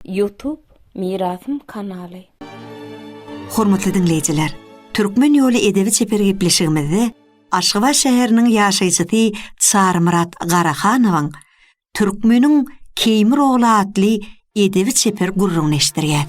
Youtube Mirasym kanaly. Hormatly diňleýjiler, Türkmen ýoly edebi-çeper gepleşigimizde Aşgabat şäheriniň ýaşaýjysy Çarymyrat Garahanowyň Türkmeniň Keýmir ogly atly edebi-çeper gürrüňini eşitdirýäs.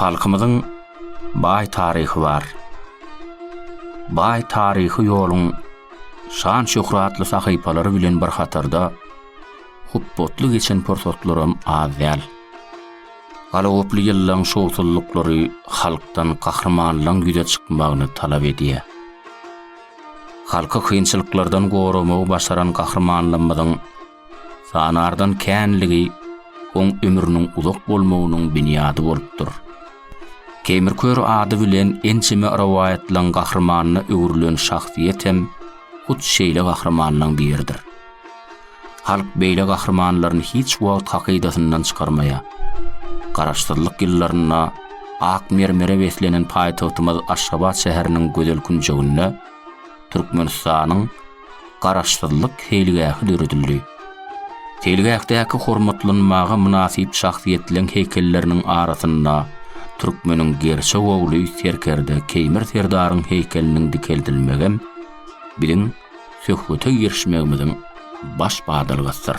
Halkymyzyň baý taryhy bar. Baý taryhy ýoluň şan-şöhratly sahypalary bilen bir hatarda hupbatly geçen pursatlaram az däl. Galagoply ýyllaryň şowsuzlyklary halkdan gahrymanlygyň ýüze çykmagyny talap edýär. Halky kynçylyklardan goramagy başaran gahrymanlarymyzyň Sanardan känligi oň ömrüniň uzak bolmagynyň binýady bolupdyr. Keýmir Kör ady bilen ençeme rowaýatlaň gahrymanyna öwrülen şahsyýet hem hut şeýle gahrymanlaň biridir. Halk beýle gahrymanlaryny hiç wagt hakydasyndan çykarmaýar. Garaşsyzlyk ýyllarynda ak mermere beslenen paýtagtymyz Aşgabat şäheriniň gözel künjeginde Türkmenistanyň Garaşsyzlyk seýilgähi döredildi. Seýilgähdäki hormatlanmaga mynasyp şahsyýetleriň heýkelleriniň arasynda türkmeniň gerçek ogly serkerde Keýmir serdaryň heýkeliniň dikeldilmegem biziň söhbete girişmegimiziň baş badalgasydyr.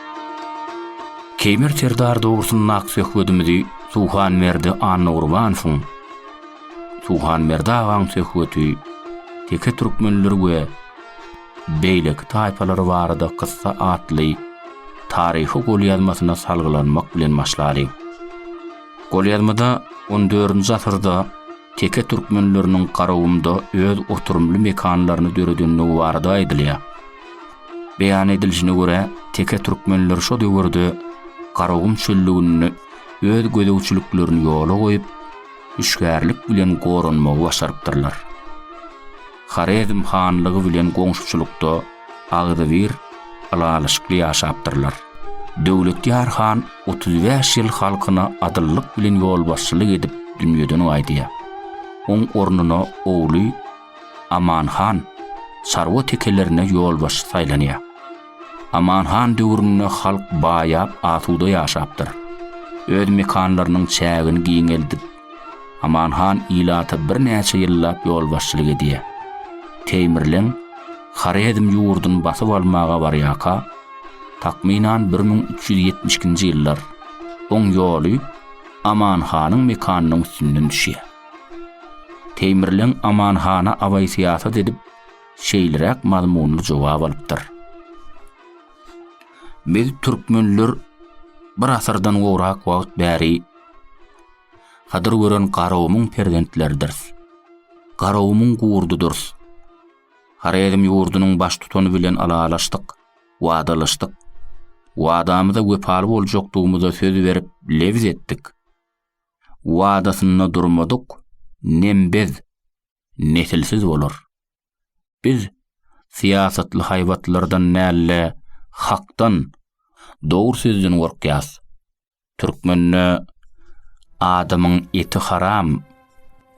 Keýmir serdar dogrusyndaky söhbedimizi Suhanberdi Annagurbanowyň Suhanberdi agaň söhbeti, Teke türkmenleri we beýleki taýpalary barada kyssa atly taryhy golýazmasyna salgylanmak bilen başlady. Golýazmada on dördünji asyrda teke türkmenleriniň Garagumda öz oturymly mekanlaryny döredendigi barada aýdylýar. Beýan edilişine görä, teke türkmenler şo döwürde Garagum çöllüginde öz gözegçiliklerini ýola goýup, hüşgärlik bilen goranmagy başarypdyrlar. Horezm hanlygy bilen goňşuçylykda agzybir ylalaşykly ýaşapdyrlar. Döwletýar han otuz bäş ýyl halkyna adyllyk bilen ýolbaşçylyk edip dünýeden gaýdýar. Oň ornuna ogly Aman han çarwa tekelerine ýolbaşçy saýlanýar. Aman han döwründe halk baýap asuda ýaşapdyr. Öz mekanlarynyň çägini giňeldip, Aman han ilata birnäçe ýyllap ýolbaşçylyk edýär. Teýmirleň Horezm ýurdun basyp almaga barýarka, takmynan bir müň üç ýüz ýetmiş ikinji ýyllar, oň ýoly Aman hanyň mekanynyň üstünden düşýär. Teýmirleň Aman hana Abaý syýasat edip, şeýleräk mazmunly jogap alypdyr. Biz türkmenler bir asyrdan gowrak wagt bäri Hydyr gören Garagumuň perzentleridiris. Garagumuň gurdudyrys. Horezm ýurdunyň baştutany bilen alalaşdyk, wadalaşdyk. Wadamyza wepaly boljakdygymyza söz berip, lebz etdik. wadasynda durmadyk nembez, nesilsiz bolar. Biz syýasatly haýbatlardan däl-de hakdan, dogry sözden gorkýas. Türkmende Adamyň eti haram.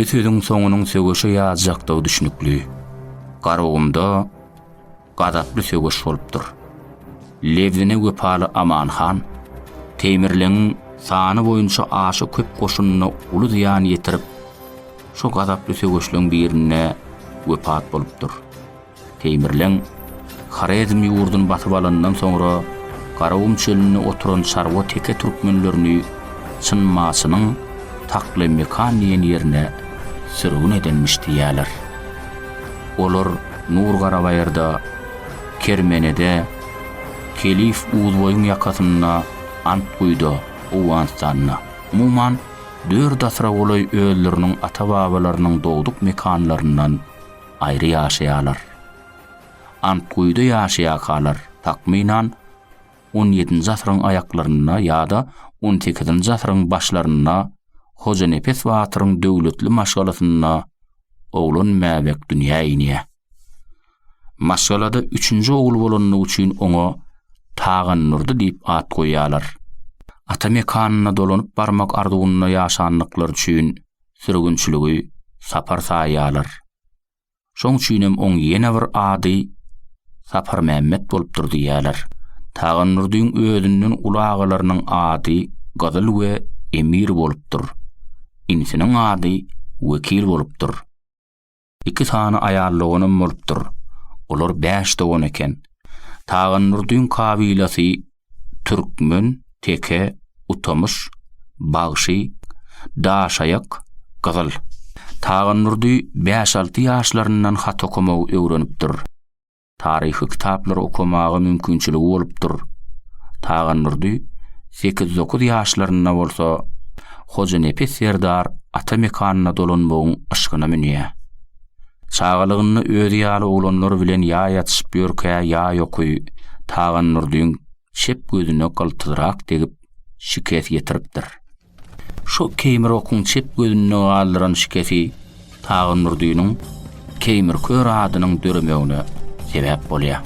Bu sözüň soňunyň söweşe ýazjakdygy düşnükli. Garagumda gazaply söweş bolupdyr. Lebzine wepaly Aman han Teýmirleňiň sany boýunça aşa köp goşunyna uly zyýan ýetirip, şo gazaply söweşleň birinde wepat bolupdyr. Teýmirleň Horezm ýurduny basyp alanyndan soňra Garagum çölünde oturan çarwa teke türkmenlerini Çynmaçynyň Taklymekan diýen ýerine sürgün edenmiş diýýärler. Olar Nur Garabaýyrda, Kermenede, Kelif Uzboýuň ýakasynda, Antguýda, Owganystanda, umuman, dört asyra golaý özleriniň ata-babalarynyň dogduk mekanlaryndan, aýry ýaşaýarlar. Antguýuda ýaşaýakalar, takmynan, on ýedinji asyryň aýaklarynda ýa-da on sekizinji asyryň başlarynda Hojanepes batyryň döwletli maşgalasynda oglan Mäbek dünýä inýär. Maşgalada üçünji ogul bolandygy üçin oňa Tagandurdy diýip at goýýarlar. Ata mekanyna dolanyp barmak arzuwynda ýaşandyklary üçin sürgünçiligi Sapar saýýarlar. Şoň üçinem oň ýene bir ady Saparmämmet bolupdyr diýýärler. Tagannurdyň özünden uly agalarynyň ady Gyzyl we Emir bolupdyr. Inisiniň ady Wekil bolupdyr. Iki sany aýal doganam bolupdyr. Olar bäş dogan eken. Tagandurdyň kabilasy türkmen, teke, utamyş, bagşy, daşaýak, gyzyl. Tagandurdy bäş-alty ýaşlaryndan hat okamagy öwrenipdir. Taryhy kitaplary okamaga mümkinçiligi bolupdyr. Tagandurdy sekiz-dokuz ýaşlarynda bolsa Hojanepes serdar ata mekanyna dolanmagyň yşgyna münýär. Çagalygynda özi ýaly oglanlar bilen ýa ýatyşyp ýörkä ýa ýoky Tagandurdyň çep gözüne gyltyzrak degip şikes ýetiripdir. Şu Keýmirokyň çep gözünde galdyran şikesi Tagynurdynyň Keýmir kör adynyň döremegine sebäp bolýar.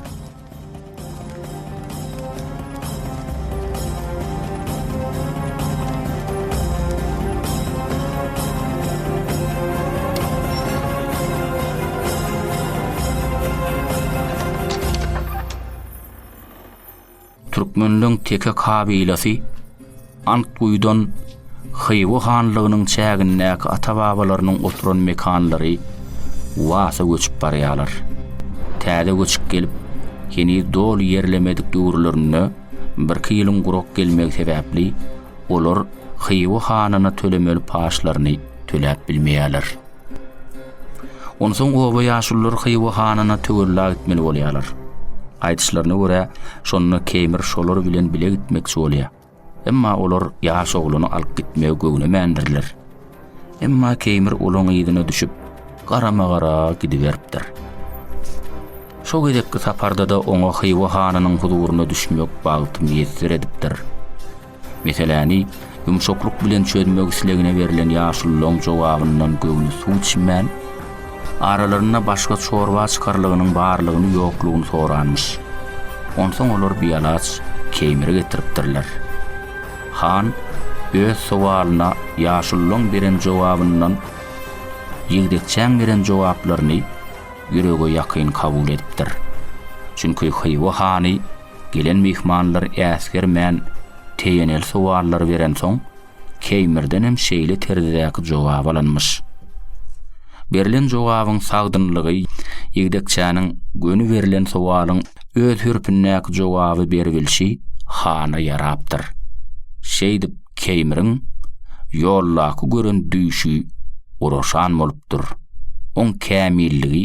Türkmenleň teke kabilasy Antguýudan Hywa hanlygynyň çägindäki ata-babalarynyň oturan mekanlary Wasa göçüp barýarlar. Täze göçük gelip, heniz doly ýerlemedik döwürlerinde birki ýylyň gurak gelmegi sebäpli, olar Hywa hanyna tölemeli paçlaryny töläp bilmeýärler. Onsoň oba ýaşulular Hywa hanyna töwerlag etmeli bolýarlar. Aýdyşlaryna görä, şonda Keýmir şolar bilen bile gitmekçi bolýar. Emma olar ýaş oglany alyp gitmegi göwnemändirler. Emma Keýmir olaň yzyna düşüp, garama-gara gidiberipdir. Şo gezekki saparda-da oňa Hywa hanynyň huzuryna düşmek bagty miýesser edipdir. Meseläni ýumşaklyk bilen çözmek islegine berlen ýaşululaň jogabyndan göwni suw içmän, aralarynda başga çorba çykarlygynyň barlygyny-ýoklugyny soranmyş. Onsoň olar bialaç keýmiri getiripdirler. Han öz sowalyna ýaşululaň beren jogabyndan ýigdekçäň beren jogaplaryny ýürege ýakyn kabul edipdir. Çünki Hywa hany Gelen myhmanlar äsgermän teýeneli sowallary berensoň, Keýmirdenem şeýle terzdäki jogap alanmyş. Berlen jogabyň sagdynlygy ýigdekçäniň göni berlen sowalyň öz hürpündäki jogaby beribilşi hana ýarapdyr. Şeýdip Keýmiriň ýoldaky gören düýşi guraşan bolupdyr. Oň kämilligi,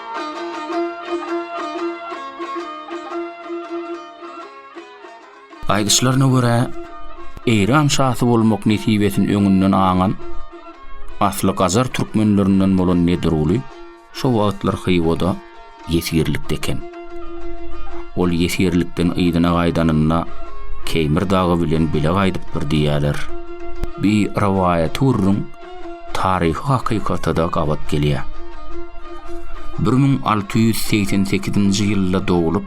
Aýdyşlaryna görä, Eýran şasy bolmak nesibesini öňünden aňan, asly gajar türkmenlerinden bolan Nedruly şo wagtlar Hywoda ýesirlikde eken. Ol ýesirlikden yzyna gaýdanynda Keýmir dagy bilen bile gaýdypdyr diýýärler. Bir rowaýaty gürrüň taryhy hakykata-da gabat gelýär. Bir müň alty ýüz segsen sekizinji ýylda doglup,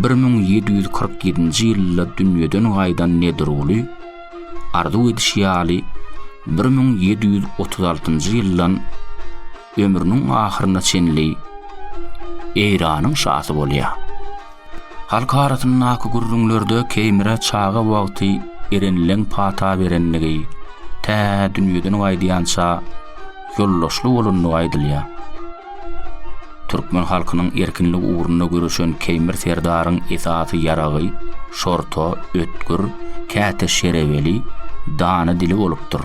bir müň ýedi ýüz kyrk ýedinji ýylda dünýeden gaýdan Nedirguly, arzuw edişi ýaly, bir müň ýedi ýüz otuz altynjy ýyldan ömrüniň ahyryna çenli Eýranyň şasy bolýar. Halk arasyndaky gürrüňlerde Keýmire çaga wagty Erenleň pata berendigi, tä dünýeden gaýdýança ýoldaşly bolandygy aýdylýar. Türkmen halkynyň erkinlik ugrunda göreşen Keýmir serdaryň esasy ýaragy şorta, ötgür, käte şereweli, dana dili bolupdyr.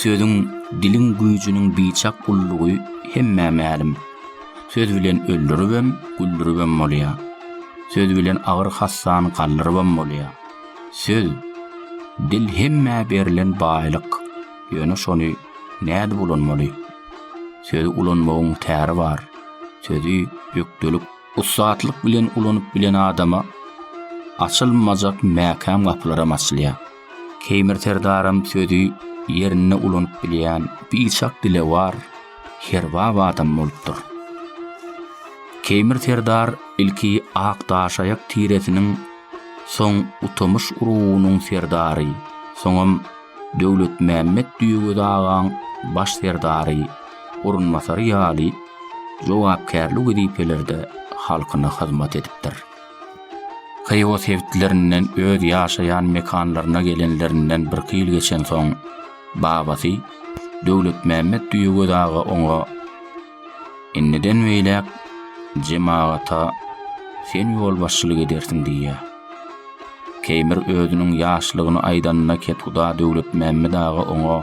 Sözüň, diliň güýjüniň biçak ullugy hemmä mälim. Söz bilen öldüribem, güldüribem bolýar. Söz bilen agyr hassany galdyrybam bolýar. Söz, dil hemmä berlen baýlyk. Ýöne şony nädip ulanmaly? Sözi ulanmagyň täri bar. Sözi ökdelik Ussatlyk bilen ulanyp bilen adama açylmajak mäkäm gapylaram açylýar. Keýmir serdaram sözi ýerinde ulanyp bilýän biçak dilewar, herbap adam bolupdyr. Keýmir serdar ilki Akdaşaýak tiresiniň, soň Utamyş urugynyň serdary, soňam Döwletmämmet Düýegöz agaň baş serdary, orunbasary ýaly jogapkärli wezipelerde halkyna hyzmat edipdir. Hywa sebitlerinden öz ýaşaýan mekanlaryna gelenlerinden birki ýyl geçensoň, babasy Döwletmämmet Düýegöz aga oňa, Indiden beýläk jemagata sen ýolbaşçylyk edersiň diýýär. Keýmir özüniň ýaşlygyny aýdanyna kethuda Döwletmämmet aga oňa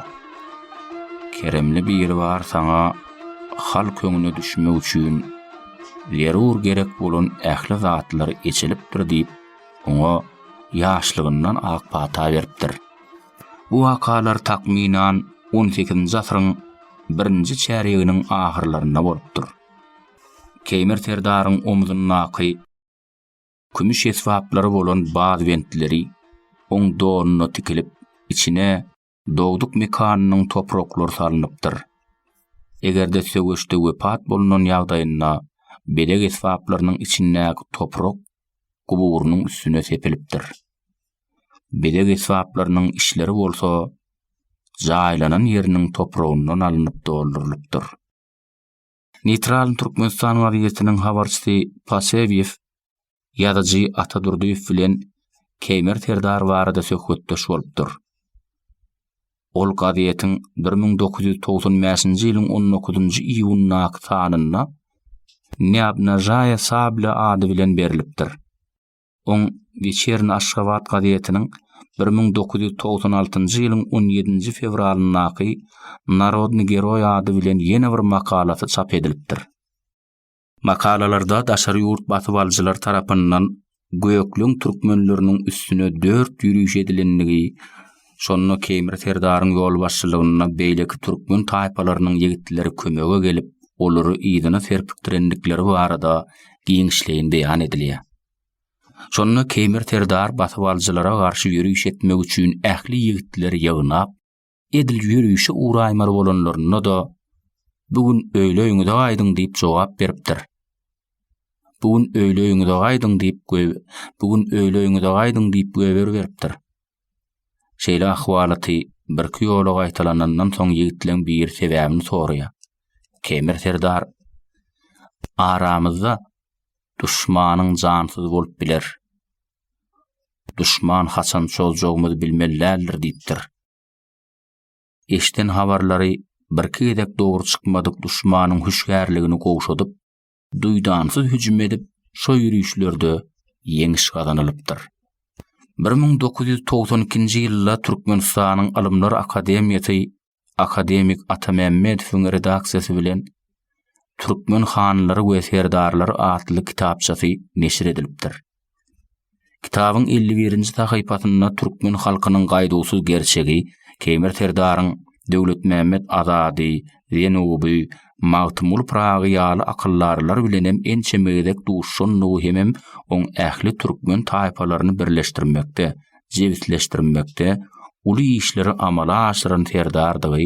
Keremli biri bar saňa halk öňüne düşmek üçin zerur gerek bolan ähli zatlar eçilipdir diýip, oňa ýaşlygyndan ak pata beripdir. Bu wakalar takmynan on sekizinji asyryň birinji çärýeginiň ahyrlarynda bolupdyr. Keýmir serdaryň omuzyndaky kümüş esbaplary bolan baz bentleri oň donuna tikilip, içine dogduk mekanynyň topraklary salnypdyr. Eger-de söweşde wepat bolunan ýagdaýynda bezeg esbaplarynyň içindäki toprak guburynyň üstüne sepilipdir. bezeg esbaplarynyň içleri bolsa jaýlanan ýeriniň topragyndan alnyp doldurylypdyr. Neýtral Türkmenistan gazetiniň habarçysy Pasewýew ýazyjy Ata Durdyýew bilen Keýmer serdar barada söhbetdeş bolupdyr. Ol gazetiň bir müň dokuz ýüz togsan bäşinji ýylyň on dokuzynjy iýunyndaky sanynda Ne obnažaýa sabla ady bilen berlipdir. Oň Weçerny Aşgabat gazetiniň bir müň dokuz ýüz togsan altynjy ýylyň on ýedinji fewralyndaky Narodny geroý ady bilen ýene bir makalasy çap edilipdir. Makalalarda daşary ýurt basybalyjylar tarapyndan gökleň türkmenleriniň üstüne dört ýüriş edilendigi, Şonda Keýmir serdaryň ýolbaşçylygynda beýleki türkmen taýpalarynyň ýigitleri kömege gelip, olary yzyna serpikdirendikleri barada giňişleýin beýan edilýär. Şonda Keýmir serdar basybalyjylara garşy ýöriş etmek üçin ähli ýigitleri ýygnap, edil ýörişe ugraýmaly bolanlarynda-da, Bu gün öýle öýüňize gaýdyň diýip jogap beripdir. Bu gün öýle öýüňize gaýdyň diýip, bu gün öýle öýüňize gaýdyň diýip göwher beripdir. Şeýle ahwalaty birki ýola gaýtalanandan soň ýigitleň biri sebäbini soraýar. Kemir serdar, Aramyzda duşmanyň jansyz bolup biler. Duşman haçan çozjagymyzy bilmeli däldir diýipdir. Eşden habarlary birki gezek dogry çykmadyk duşmanyň hüşgärligini gowşadyp, duýdansyz hüjüm edip, şo ýörişlerde ýeňiş gazanylypdyr. Bir müň dokuz ýüz togsan ikinji ýylda Türkmenistanyň Ylymlar akademiýasy akademik Atamämmedowyň redaksiýasy bilen Türkmen hanlary we serdarlary atly kitapçasy neşir edilipdir. Kitabyň elli birinji sahypasynda türkmen halkynyň gaýduwsyz gerçegi, Keýmir serdaryň Döwletmämmet Azady, Zenuby, Magtymguly Pyragy ýaly akyldarlar bilenem ençeme gezek duşandygy hemem oň ähli türkmen taýpalaryny birleşdirmekde, jebisleşdirmekde uly işleri amala aşyran serdardygy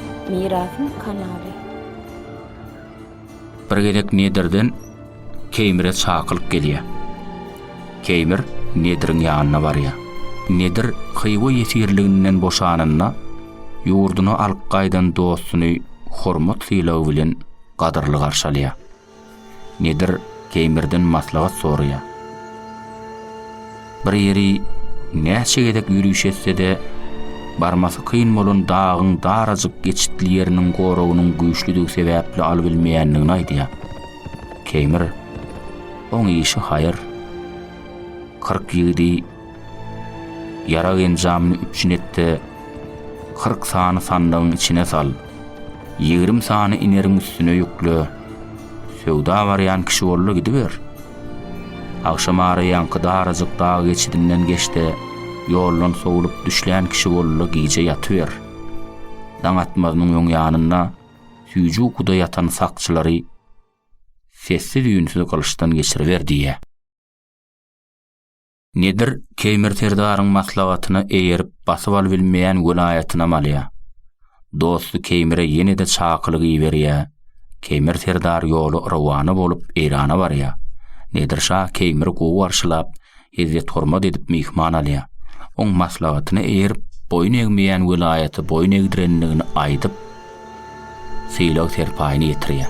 Mirasym kanaly. Bir gezek Nedirden Keýmire çakylyk gelýär. Keýmir Nediriň ýanyna barýar. Nedir Hywa ýesirliginden boşananda, ýurduna alyp gaýdan dostuny hormat sylagy bilen gadyrly garşy alýar. Nedir Keýmirden maslahat soraýar. Bir ýeri näçe gezek ýöriş etse-de, barmasy kyn bolan dagyň darajyk geçitli ýeriniň goragynyň güýçlüdigi sebäpli alybilmeýändigini aýdýar. Keýmir, Oň işi haýyr. Kyrk ýigidi Ýarag enjamyny üpjün et-de, kyrk sany sandygyň içine sal. Ýigrimi sany ineriň üstüne ýükle. Söwda barýan kişi bol-da gidiber. Agşam araýanky darajyk dag geçidinden geç-de, ýoldan sowlup düşlän kişi bol-da gije ýatyber. Daň atmazynyň öň ýanynda süýji ukuda ýatan sakçylary sessiz-üýnsüz gylyçdan geçiriber diýýär. Nedir Keýmir serdaryň maslahatyna eýerip basyp alybilmeýän welaýatynam alýar. Dosty Keýmire ýene-de çakylyk iberýär. Keýmir serdar ýola rowana bolup Eýrana barýar. Nedir şa Keýmiri gowy garşylap, ezzet-hormat edip myhman alýar. Oň maslahatyna eýerip boýun egmeýän welaýaty boýun egdirendigini aýdyp, sylag-serpaýyny ýetirýär.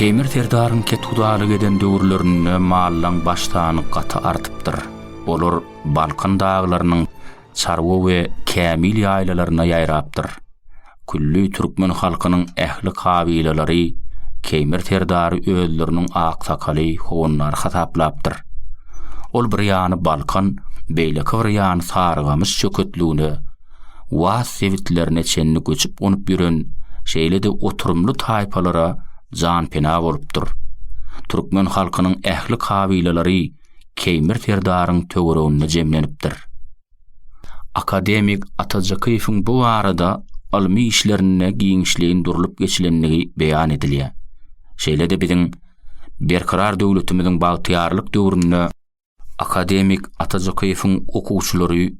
Teýmir serdaryň kethudalyk eden döwürlerinde mallaň baş sany gaty artypdyr. Olar Balkan daglarynyň Çarwa we Kämil ýaýlalaryna ýaýrapdyr. Külli türkmen halkynyň ähli kabylalary Keýmir serdary özleriniň aksakaly, howandary hasaplapdyr. Ol bir ýany Balkan, beýleki bir ýany Sarygamyş çöketligine, Waz sebitlerine çenli göçüp-gonup ýören, şeýle-de oturymly taýpalara janpena bolupdyr. Türkmen halkynyň ähli kabylalary Keýmir serdaryň töwereginde jemlenipdir. Akademik Atajakyýewiň bu barada ylmy işlerinde giňişleýin durlup geçilendigi beýan edilýär. Şeýle-de biziň Berkarar döwletimiziň bagtyýarlyk döwründe Akademik Atajakyýewiň okuwçylary,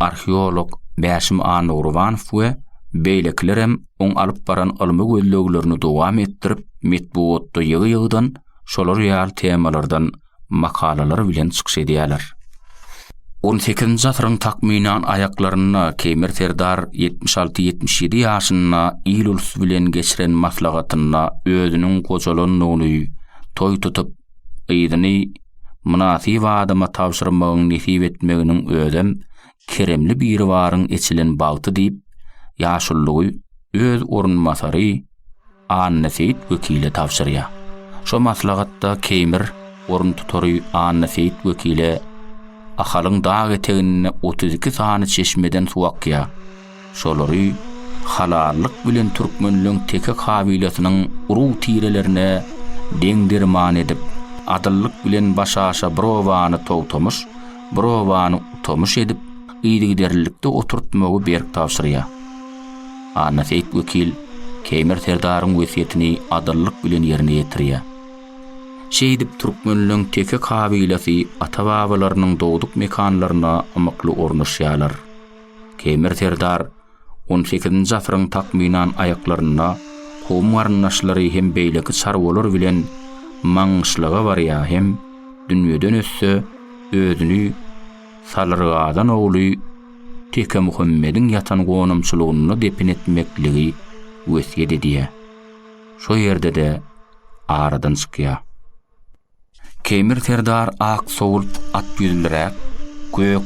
arheolog Bäşim Annagurwanow we beýlekilerem oň alyp baran ylmy gözleglerini dowam etdirip, metbugatda ýygy-ýygydan şolar ýaly temalardan makalalar bilen çykyş edýärler. On sekizinji asyryň takmynan aýaklarynda Keýmir serdar ýetmiş alty-ýetmiş ýedi ýaşynda il-ulusy bilen geçiren maslahatynda özüniň gojalandygyny, toý tutup, gyzyny mynasyp adama tabşyrmagyň nesip etmeginiň özem keremli Biribaryň eçilen bagty diýip, ýaşulygy öz orunbasary Annaseýit wekile tabşyrýar. Şo maslahatda Keýmir oruntutary Annaseýit wekile Ahalyň dag eteginde otuz iki sany çeşmeden suw akýar. Şolary halallyk bilen türkmenleň teke kabilesynyň urug-tirelerine deň-derman edip, adyllyk bilen başaşa bir obany togtamyş, bir obany utamyş edip, yzygiderlilikde oturtmagy berk tabşyrýar. Annaseýit wekil Keýmir serdaryň wesýetini adyllyk bilen ýerine ýetirýär. Şeýdip, türkmenleň teke kabilasy ata-babalarynyň dogduk mekanlaryna ymykly ornaşýarlar. Temir serdar on sekizinji asyryň takmynan aýaklarynda kowum-garyndaşlary hem beýleki çarwalar bilen Maňgyşlaga barýar hem dünýeden ötse, özüni Salyrgazan ogly Tekemuhammediň ýatan gonamçylygynda depin etmekligi wesýet edýär. Şo ýerde-de aradan çykýar. Keýmir serdar ak sowult at ýüzliräk, gök,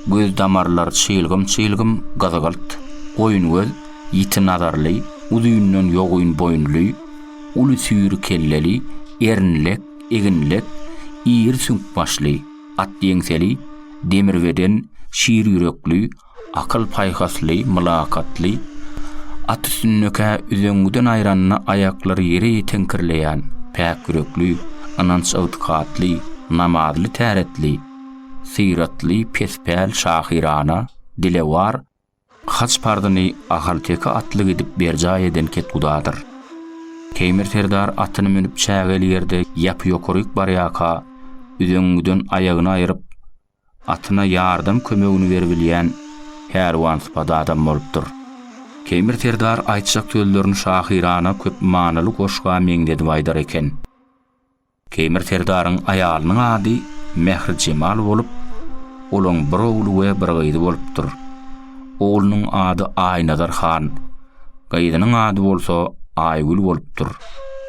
göz damarlar çylgym-çylgym gyzgylt, goýun göz, ýiti nazarly, uzyndan ýogyn boýunly, uly süýri kelleli, erinlek, eginlek, iri süňk başly, at ýeňseli, demir beden, şir ýürekli, Akyl-paýhasly, mylakatly, at üstündekä üzeňňiden aýranda aýaklary ýere ýeteňkirleýän, päk ýürekli, ynanç-ygtykatly, namazly täretli, syratly, pespäl, şahyrana, dilewar, haç parzyny ahalteke atly gidip berjaý eden ketgudadyr. Teýmir serdar atyny münüp çägeli ýerde ýapy-ýokaryk barýarka, üzeňňiden aýagyny aýryp, Atyna ýardam kömegini beribilýän pälwansypat adam bolupdyr. Keýmir serdar aýtjak sözlerini şahyrana köp manyly goşga meňzedip aýdar eken. Keýmir serdaryň aýalynyň ady Mähri Jemal bolup, olaň bir ogly we bir gyzy bolupdyr. Oglunyň ady Aýnazar han, gyzynyň ady bolsa Aýgül bolupdyr.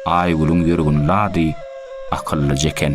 Aýgülüň ýörgünli ady Akyllyja eken.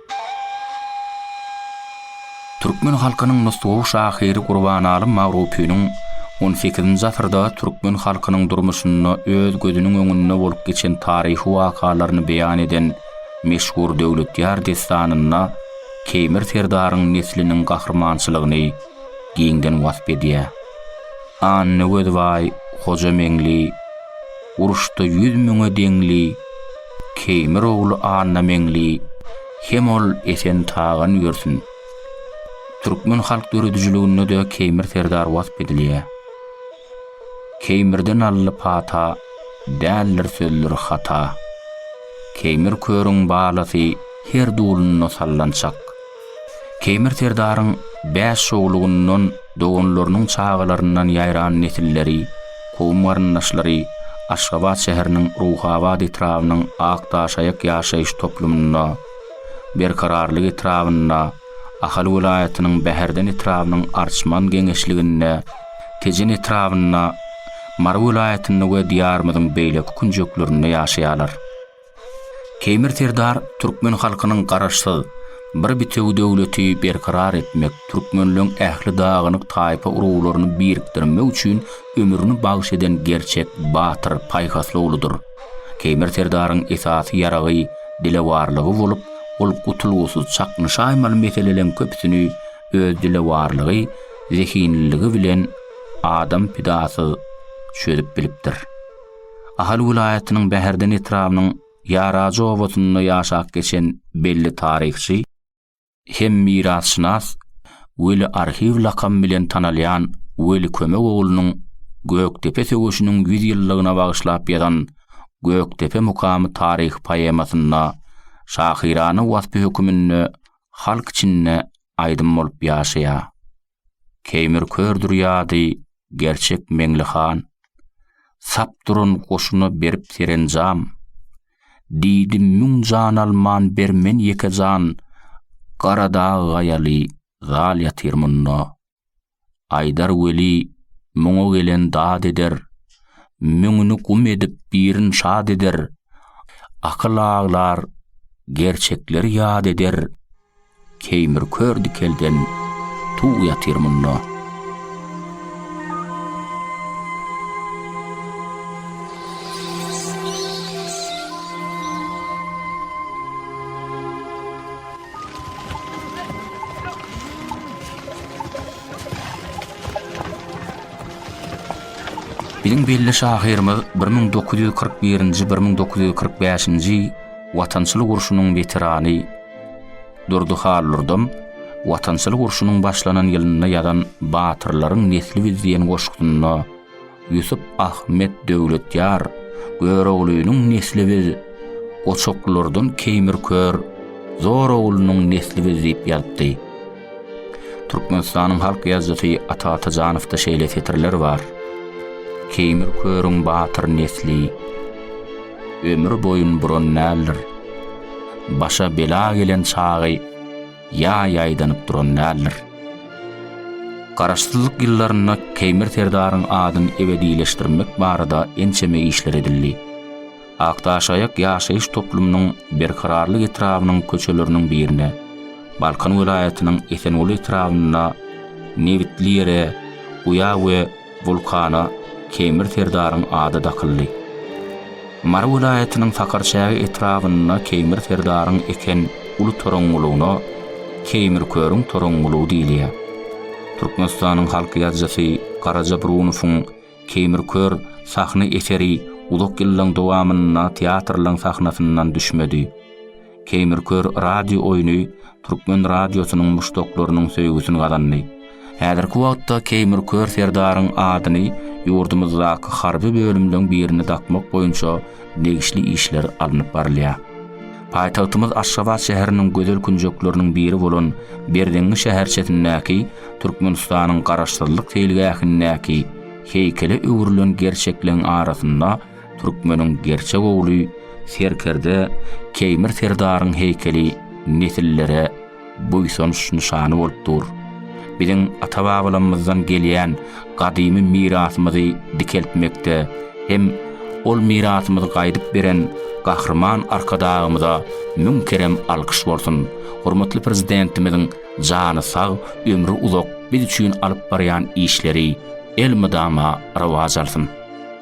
Türkmen halkynyň nusgawy şahyry Gurbanalym Magrupynyň on sekizinji asyrda türkmen halkynyň durmuşynda öz gözüniň öňünde bolup geçen taryhy wakalaryny beýan eden meşhur Döwletýar dessanynda Keýmir serdaryň nesliniň gahrymançylygyny giňden wasp edýär. Annagöz baý, Hoja Meňli, Uruşda ýüz müňe deňli, Keýmir ogly Annameňli hem ol Esen Tagan ýörsün. Türkmen halk döredijiliginde-de Keýmir serdar wasp edilýär. Keýmirde Nally pata, däldir sözdür hata. Keýmir körüň balasy her dulunda sallançak. Keýmir serdaryň bäş şowlugyndan doganlarynyň çagalaryndan ýaýran nesilleri, kowum-garyndaşlary Aşgabat şäheriniň Ruhabat etrabynyň Akdaşaýak ýaşaýyş toplumynda, Berkararlyk etrabynda, Ahal welaýatynyň Bäherden etrabynyň Arçman geňeşliginde, Tejen etrabynda, Mary welaýatynda we Diýarymyzyň beýleki künjeklerinde ýaşaýarlar. Keýmir Serdar türkmen halkynyň garaşsyz, bir bitewi döwleti berkarar etmek, türkmenleň ähli dagynyk taýpa uruglaryny birikdirmek üçin ömrüni bagyş eden gerçek batyr, paýhasly ogludyr. Keýmir Serdaryň esasy ýaragy dilewarlygy bolup, ol gutulgysyz çaknyşaýmaly meseleleň köpüsini öz dilewarlygy, zehinliligi bilen adam pidasyz çözüp bilipdir. Ahal welaýatynyň Bäherden etrabynyň Ýarajy obasynda ýaşap geçen belli taryhçy hem mirasşynas Weli arhiw lakamy bilen tanalýan Weli Kömek oglunyň Gökdepe söweşiniň ýüz ýyllygyna bagyşlap ýazan Gökdepe mukamy taryhy poemasynda şahyrana waspy höküminde halk içinde aýdym bolup ýaşaýar. Keýmir kördür ýady, gerçek Meňli han. Sap duran goşuna berip serenjam. Diýdi müň jan alman ber men ýeke jan, Garadag gaýaly zal ýatyr munda. Aýdar weli, muňa gelen dad eder, Müňüni gum edip birin şad eder. Akyl aglar, gerçekleri ýad eder. Keýmir kör dikelden tug ýatyr munda. Biziň belli şahyrymyz bir müň dokuz ýüz kyrk birinji-bir müň dokuz ýüz kyrk bäşinji Watançylyk urşunyň weterany, Durdy Hallordan Watançylyk urşunyň başlanan ýylynda ýazan Batyrlaryň nesli biz diýen goşgusynda Ýusup Ahmet Döwletýar Göroglynyň nesli biz, Goçaklylardan Keýmir Kör Zoroglynyň nesli biz diýip ýazypdy. Türkmenistanyň halk ýazyjysy Ata Atajanowda şeýle setirler bar, Keýmir Körüň batyr nesli, ömür boýun buran däldir. Başa bela gelen çagy ýaý aýdanyp duran däldir. Garaşsyzlyk ýyllarynda Keýmir serdaryň adyny ebedileşdirmek barada ençeme işler edildi. Akdaşaýak ýaşaýyş toplumynyň Berkararlyk etrabynyň köçeleriniň birine, Balkan welaýatynyň Esenguly etrabynda nebitli ýere guýa we Wulkana Keýmir serdaryň ady dakyldy. Mary welaýatynyň Sakarçäge etrabynda Keýmir serdaryň eken uly toraňňulygyna Keýmirkörüň toraňňulygy diýilýär. Türkmenistanyň halk ýazyjysy Garaja Brunowyň Keýmirkör sahna eseri uzak ýyllaryň dowamynda teatrlaryň sahnasyndan düşmedi. Keýmir kör radio oýny türkmen radiosynyň muşdaklarynyň söýgüsini gazandy. Häzirki wagtda Keýmir kör serdaryň adyny ýurdumyzdaky harby bölümleň birine dakmak boýunça degişli işler alnyp barylýar. Paýtagtymyz Aşgabat şäheriniň gözel künjekleriniň biri bolan Berzeňňi şäherçesindäki Türkmenistanyň Garaşsyzlyk seýilgähindäki heýkele öwrülen gerçekleň arasynda Türkmeniň gerçek ogly serkerde Keýmir serdaryň heýkeli nesillere buýsanç nyşany bolup dur. Biziň ata-babalarymyzdan gelýän gadymy mirasymyzy dikeltmekde hem ol mirasymyzy gaýdyp beren Gahryman Arkadagymyza müň kerem alkyş bolsun! Hormatly Prezidentimiziň jany sag, ömri uzak biz üçin alyp barýan işleri elmydama rowaç alsyn!